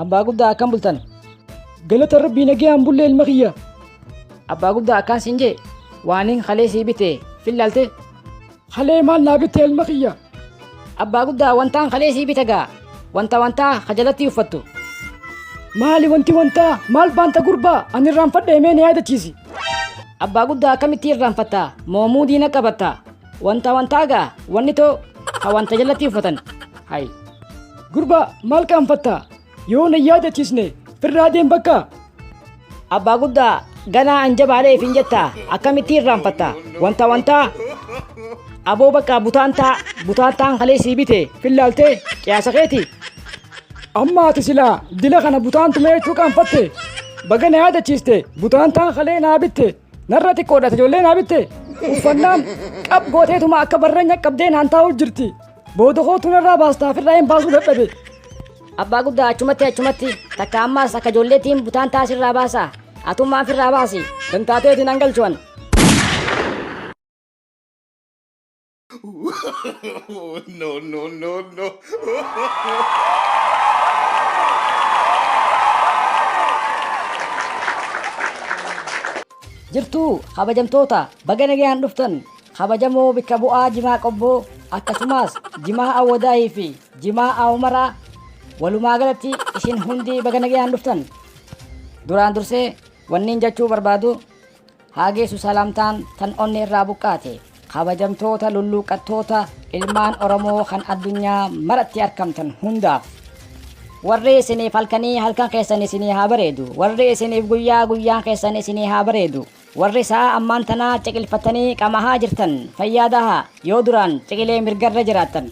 Abbaa guddaa akkam bultan? Galata rabbii nagayaan bullee ilma kiyya. Abbaa guddaa akkaan siin jee waaniin halee sii bitee fillaalte. Halee maal naa bittee ilma kiyya? Abbaa guddaa wantaan halee sii bite gaa wanta wantaa hajalatti uffattu. Maali wanti wantaa maal baanta gurbaa ani irraanfadhe mee na yaadachiisi. Abbaa guddaa akkamitti irraanfatta moomuu diina qabatta. Wanta wantaa gaa wanni too ha wanta jalatti uffatan hay. Gurbaa maal qaanfatta yoo na yaadachiisne firraa deem bakka. Abbaa guddaa ganaa an jabaalee ifin jetta akkamitti irraanfatta wanta wantaa aboo bakka butaantaa butaantaan kalee sii bite fillaaltee qiyaasa keeti. Amma ati silaa dila kana butaan tumee jechuu qaanfatte baga na yaadachiiste butaan taan kalee naa bitte Narra xiqqoodha ijoollee naa bitte uffannaan qab gooteetuma akka barranya qabdee naan taa'u jirti. Booda kootu narraa baastaa firraa hin baasuu dadhabe. Abbaa guddaa achumatti achumatti takka ammaas akka ijoolleetiin butaan taasirraa baasa. Atummaan firraa baasi. Dantaateetiin an galchuwan. Oh, no, no, no, no. Jirtuu kabajamtoota baga nagayaan dhuftan kabajamoo bikka bu'aa jimaa qobboo akkasumas jimaa awwadaahii fi jimaa awumaraa walumaa galatti isin hundi baga nagayaan dhuftan duraan dursee wanniin jechuu barbaadu Haa geessu salaamtaan tan onnee irraa buqqaate. Kabajamtoota lulluuqqattoota ilmaan Oromoo kan addunyaa maratti arkamtan hundaaf. Warri isiniif halkanii halkan keessan isinii haa bareedu. Warri isiniif guyyaa guyyaan keessan isinii haa bareedu. Warri sa'aa ammaan tanaa ciqilfattanii qamahaa jirtan fayyaa tahaa. Yoo duraan ciqilee mirgarra jiraattan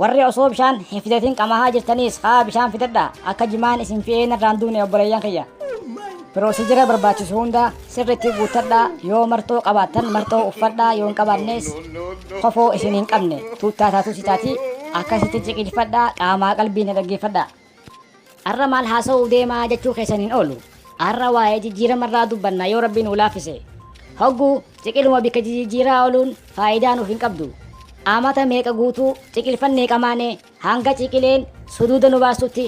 Warri osoo bishaan hin fidatin qamaahaa jirtaniis ka'aa bishaan fidadhaa akka jimaan isin fi'ee narraan duune obboleeyyan kiyya. Piroosijira barbaachisu hunda sirriitti guuttadhaa yoo marxoo qabaattan marxoo uffadhaa yoo hin qabaannees kofoo isin hin qabne tuuttaa taatus itaatii akkasitti ciqiilfadhaa qaamaa qalbiin na dhaggeeffadhaa. Arra maal haasawuuf deema jechuu keessan hin oolu. Arra waa'ee jijjiirama irraa dubbanna yoo Rabbi nuu laaffise. Hoggu ciqiluma bikka jijijjiiraa ooluun faayidaa nuuf hin qabdu. Amata meeqa guutuu ciqilfannee qamaane hanga ciqileen suduuda nu baastutti.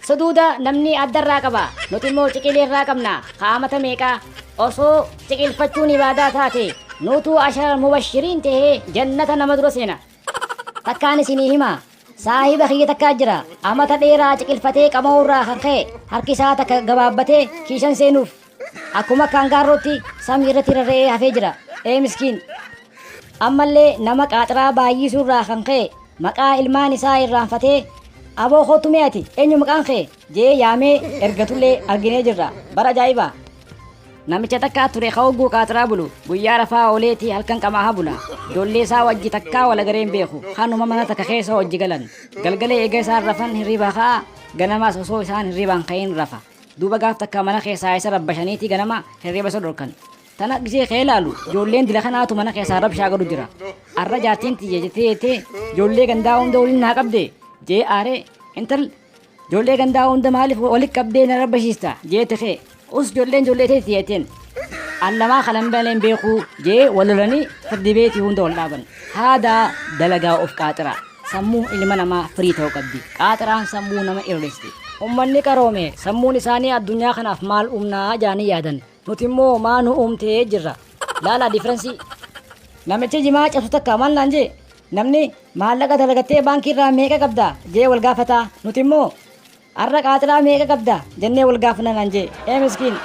Suduuda namni adda irraa qaba. Nuti immoo ciqilee irraa qabna ka amata meeqaa. Osoo ciqilfachuun ibaadaa taate nuutu asharal mubashiriin tahee jannata nama dura seena. Takkaan isinii hima. Saahiba kiyya takka jira. Amata dheeraa ciqilfatee qama'uurraa kan ka'e harki isaa takka gabaabbatee kiishan seenuuf. Akkuma akka angaarrootti samii irratti rarra'ee hafee jira. Ee miskiin. Ammallee nama qaaxraa baay'isuurraa kan ka'e maqaa ilmaan isaa irraanfatee Aboo kootu mee ati eenyu maqaan kee? jee yaamee ergatullee arginee jirra bara ajaa'ibaa. Namicha takka ture ka hogguu qaaxraa bulu guyyaa rafaa ooleeti halkan qamaaha bula ijoollee isaa wajji takkaa wal agaree hin beeku kanuma mana takka keessa wajji galan galgala eega isaan rafan hirriibaa ka'a ganamaas osoo isaan hirriibaan ka'in rafa duuba gaaf takka mana keessaa isa rabbashaniiti ganama hirriiba isa dhorkan tana gisee kee laalu ijoolleen dila kanaatu mana keessaa rabshaa godhu jira arra jaartiin tiyya jettee jettee ijoollee gandaa hunda waliin naa qabde jee aaree intal Jollee gandaa hunda maalif wali qabdee nara bashiista jeete kee us jolleen jollee teeti jeteen an namaa kana hin beekne hin beekuu jee wal lolanii firdi beeti hunda wal dhaaban haadaa dalagaa of qaaxiraa sammuun ilma namaa firii ta'uu qabdi qaaxiraan sammuu nama irreesti ummanni qaroome sammuun isaanii addunyaa kanaaf maal umnaa jaanii yaadan Nuti immoo maa nu uumtee jirra. Laalaa difference. Namichi jimaa cabsu takka maal naan jee? Namni maallaqa dalagattee baankii irraa meeqa qabda jee wal gaafata. Nuti immoo har'a qaaxiraa meeqa qabda jennee wal gaafna naan jee. Ee miskiin.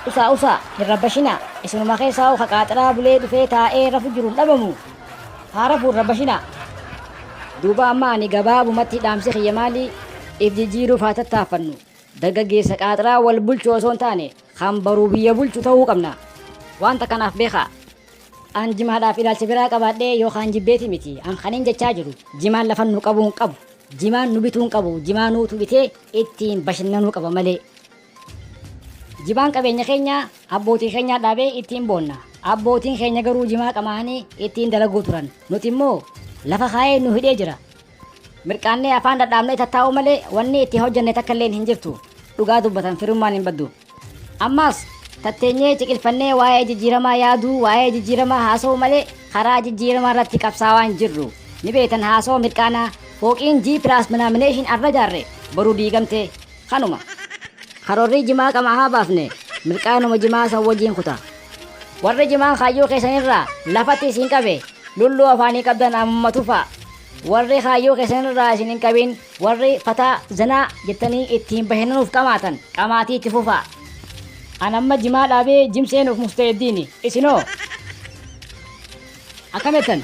Usaa usaa hin rabbashinaa. Isinuma keessaa hoo ka qaaxiraa bulee dhufee taa'ee rafu jiru hin dhabamu. Haa rafuu hin rabbashinaa. Duuba amma ani gabaabumatti dhaamsi kiyya maali? If jijjiiruuf haa tattaaffannu. Dargaggeessa qaaxraa wal bulchu osoo hin taane kan baruu biyya bulchu ta'uu qabna. Waan takka naaf beekaa. An jimaadhaaf ilaalcha biraa qabaadhee yookaan jibbeeti miti. An kanin jechaa jiru jimaan lafa nu qabuu hin qabu. Jimaan nu bituu hin qabu. Jimaa nuutu bitee ittiin bashannanuu qaba malee. Jimaan qabeenya keenya abbootii keenyaa dhaabee ittiin boonna. Abbootiin keenya garuu jimaa qamaa'anii ittiin dalaguu turan. Nuti immoo lafa kaa'ee nu hidhee jira. Mirqaannee afaan dhadhaabnee tattaa'uu malee wanni itti hojjenne takka illee hin jirtu. Dhugaa dubbatan firummaan hin baddu. Ammaas tatteenyee ciqilfannee waa'ee jijjiiramaa yaaduu, waa'ee jijjiiramaa haasa'uu malee karaa jijjiiramaa irratti qabsaawaa hin jirru. Ni beektan haasawa mirqaanaa fooqiin G plus minaamination arra jaarre boru diigamtee Kanuma. Karorrii jimaa qama haa baafne milqaanuma jimaa san wajiin kuta. Warri jimaan kaayyoo keessan irraa lafatti isin qabe lulluu afaanii qabdan ammuma tufaa. Warri kaayyoo keessan irraa isin hin qabin warri fataa zinaa jettanii ittiin bashananuuf qamaatan qamaatii itti fufaa. An amma jimaa dhaabee jim seenuuf musta'eddiini. Isinoo? Akkam jettan?